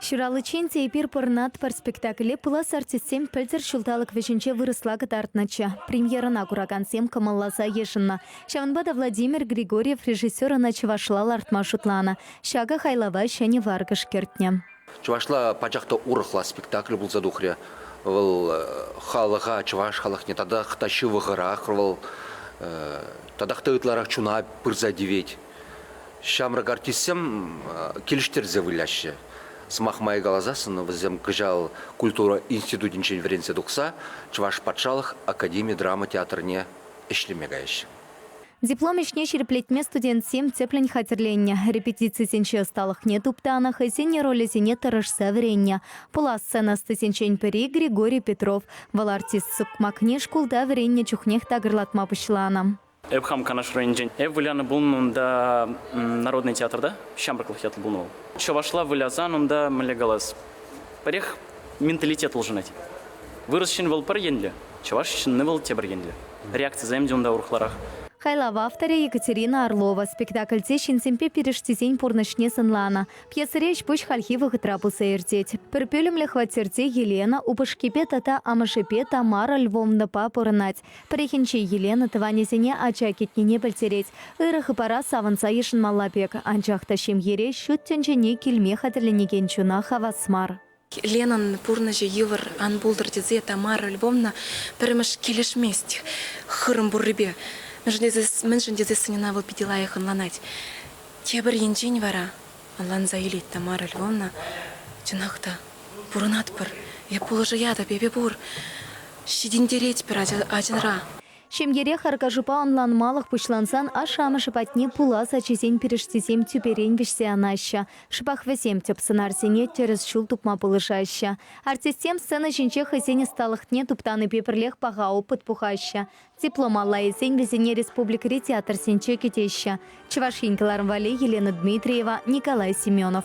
Ҫураличчен те эпир Пӑрнат-пӑр спектакле пулас артистсем пӗлтӗр ҫулталӑк вӗҫӗнче вырӑсла кӑтартнӑччӗ. Премьерӑна куракансем кӑмӑлласа йышӑннӑ. Ҫавӑнпа та Владимир Григорьев режиссер ӑна чӑвашла лартма шутланӑ. Ҫакӑ хайлава ҫӗнӗ варкӑш кӗртнӗ. Чӑвашла пачах та урӑхла спектакль пулса тухрӗ. Вӑл халӑха, чӑваш халӑхне татах та ҫывӑхӑрах, вӑл татах та ытларах чуна пырса тивет. Ҫамрӑк артистсем килӗштерсе выляҫҫӗ. Сӑмах май каласассӑн, вӗсем кӑҫал культура институтӗнчен вӗренсе тухса Чӑваш патшалӑх академи драма театрне ӗҫлеме каяҫҫӗ. Диплом ӗҫне ҫирӗплетме студентсем тӗплӗн хатӗрленнӗ, репетицисенчи ӑсталӑхне туптанӑ, хӑйсен ролӗсене тӑрӑшса вӗреннӗ. Пулас сцена ӑстисенчен пӗри Григорий Петров. Вӑл артист сукмакне шкулта вӗреннӗ чухнех такӑрлатма пуҫланӑ. Эп хам Канаш районӗнчен. Эп вылянӑ пулнӑ унта Народный театрта. Ҫамрӑклӑх ятлӑ пулнӑ вӑл. Чӑвашла вылясан унта мӗнле калас? Пӗрех менталитет улшӑнать. Вырӑс ҫын вӑл пӗр енлӗ, чӑваш ҫынни вӑл тепӗр енлӗ. Реакцисем те унта урӑхларах. Хайлав авторӗ Екатерина Орлова спектакльте ҫынсемпе пирӗштисен пурнӑҫне сӑнланӑ. Пьесӑри ӗҫ-пуҫ хальхи вӑхӑтра пырса иртет. Пӗр пӳлӗмлӗ хваттерте Елена упӑшкипе тата амӑшӗпе Тамара Львовнӑпа пурӑнать. Пӗррехинче Елена тӑванӗсене ача кӗтнине пӗлтерет. Ырӑ хыпара савӑнса йышӑнмалла пек, анчах та ҫемьере ҫут тӗнчене килме хатӗрленекен чуна хавас мар. Ленӑн пурнӑҫӗ йывӑр ан пултӑр тесе Тамара Львовна пӗрремӗш килӗшмест хырӑм пуррипе. Мӗншӗн тесе сӑньӑна вӑл питӗ лайӑх ӑнланать. Тепӗр енчен вара Ӑнланса илет Тамара Львовна. Чӑнах та, пурӑнатпӑр. Эп пулӑшаятӑп, эпӗ пур. Ҫитӗнтеретпӗр ачанра. Ҫемьере харкашупа ӑнланмалӑх пуҫлансан ашшӗ-амӑшӗ патне пулас ачисен пирӗштисем тӳперен вӗҫсе анаҫҫӗ. Шӑпах вӗсем тӗп сӑнарсене тӗрӗс ҫул тупма пулӑшаҫҫӗ. Артистсем сцена ҫинче хӑйсен ӑсталӑхне туптанипе пӗрлех паха опыт пухаҫҫӗ, Диплом аллайӗсен вӗсене республикӑри театрсенче кӗтеҫҫӗ. Чӑваш Ен кӑларӑм валли Елена Дмитриева, Николай Семенов.